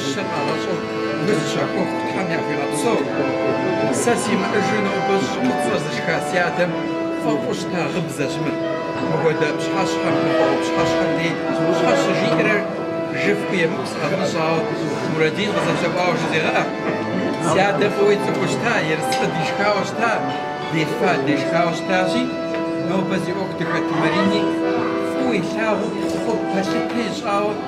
Щэ къагъащӏэу, гу зыщахуэу Тхьэм яхуигъэпсэу. Сэ симыӏэжу нобэ щӏы фӏыцӏэ зышха си адэм фӏэфӏу щыта гъыбзэщ мыр. Мыхуэдэ пщыхьэщхьэм, мыпхуэдэ пщыхьэщхьэм дей щхьэ щыжиӏэрэр жыфӏэу емыкӏу сыкъэвмыщӏауэ, Мурадин къызэплъэӏуауэ жызегъэӏэ. Си адэм фӏыуэ ицӏыхуу щыта, ерыскъы дишхауэ щыта, дефа дешхауэ щытащи, нобэ зи ӏуэху дыхэт Марини фӏыуэ илъагъуу, пхъу пэлъытэу ищӏауэ,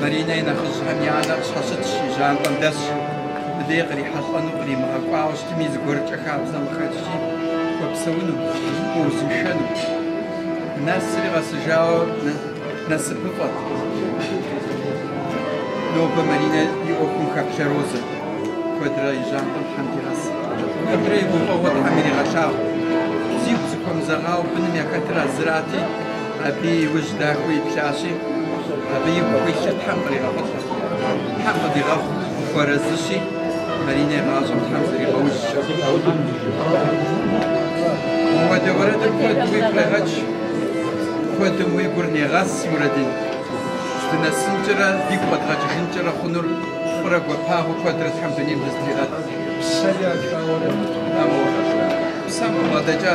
Маринэ и нэхъыжьхэм я анэр къыщхьэщытщ, и жьантӏэм дэсщ. Мыбдей кърихьэлӏэну къримыгъэкӏуауэ щытми, зыгуэркӏэ хабзэм къыхэкӏри хуэпсэуну, хуэузыншэну. Нэсри къэсыжауэ насыпыфӏэт. Нобэ Маринэ и ӏуэхум хэплъэ Розэ куэдрэ и жьантӏэм Тхьэм дигъэс. Куэдрэ и гуфӏэгъуэ Тхьэм иригъэлъагъу. Зигу зыхуэмызэгъауэ быным яхэтыр Азрэтти, Абы и ужь дахэу иплъащи, абы игу хуилъыр Тхьэм къригъэхъулӏэ. Тхьэм къыдигъэхъу хуэрэзыщи, Маринэ и гъащӏэм Тхьэм зригъэужь. Мыуэдэ уэрэдым куэд уигу къегъэкӏ, куэдым уи гур негъэс, Мурадин. Дынэсынкӏэрэ дигу къэдгъэкӏыжынкӏэрэ хъунур фӏырэ гуапагъэу куэдрэ Тхьэм дунейм дызытригъэт. Псэ яшауэрэ? Амур, псэм къыбгъэдэкӏа?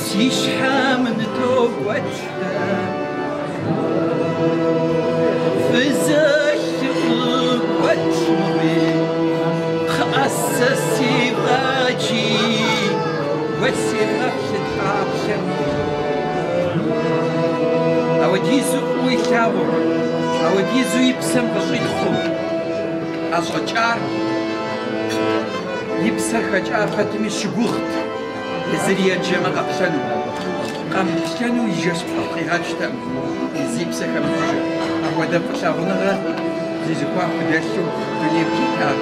Си щхьэм нытокӏуэкӏрэ фызэлъыкъуэкӏми, кхъыӏэ, сэ си фӏэкӏи уэ си гъэплъыт гъаплъэми. Ауэдизу фӏыуэ илъагъур, ауэдизу и псэм къыщӏилъхъум ӏэщӏэкӏар, и псэр хэкӏа пэтми щыгугът. Зыри еджэмэ къэплъэну, къэмыплъэну и жэщ пхъу къигъэкӏтэм, зи псэ хэмытыжыр. Апхуэдэ фӏылъагъуныгъэ зезыхуа худэлъу дунейм щытат.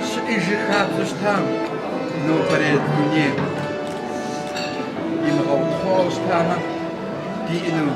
Щыӏэж хабзэу щытам нобэрей дунейр имыгъэутхъуэу щытамэ, диӏэну.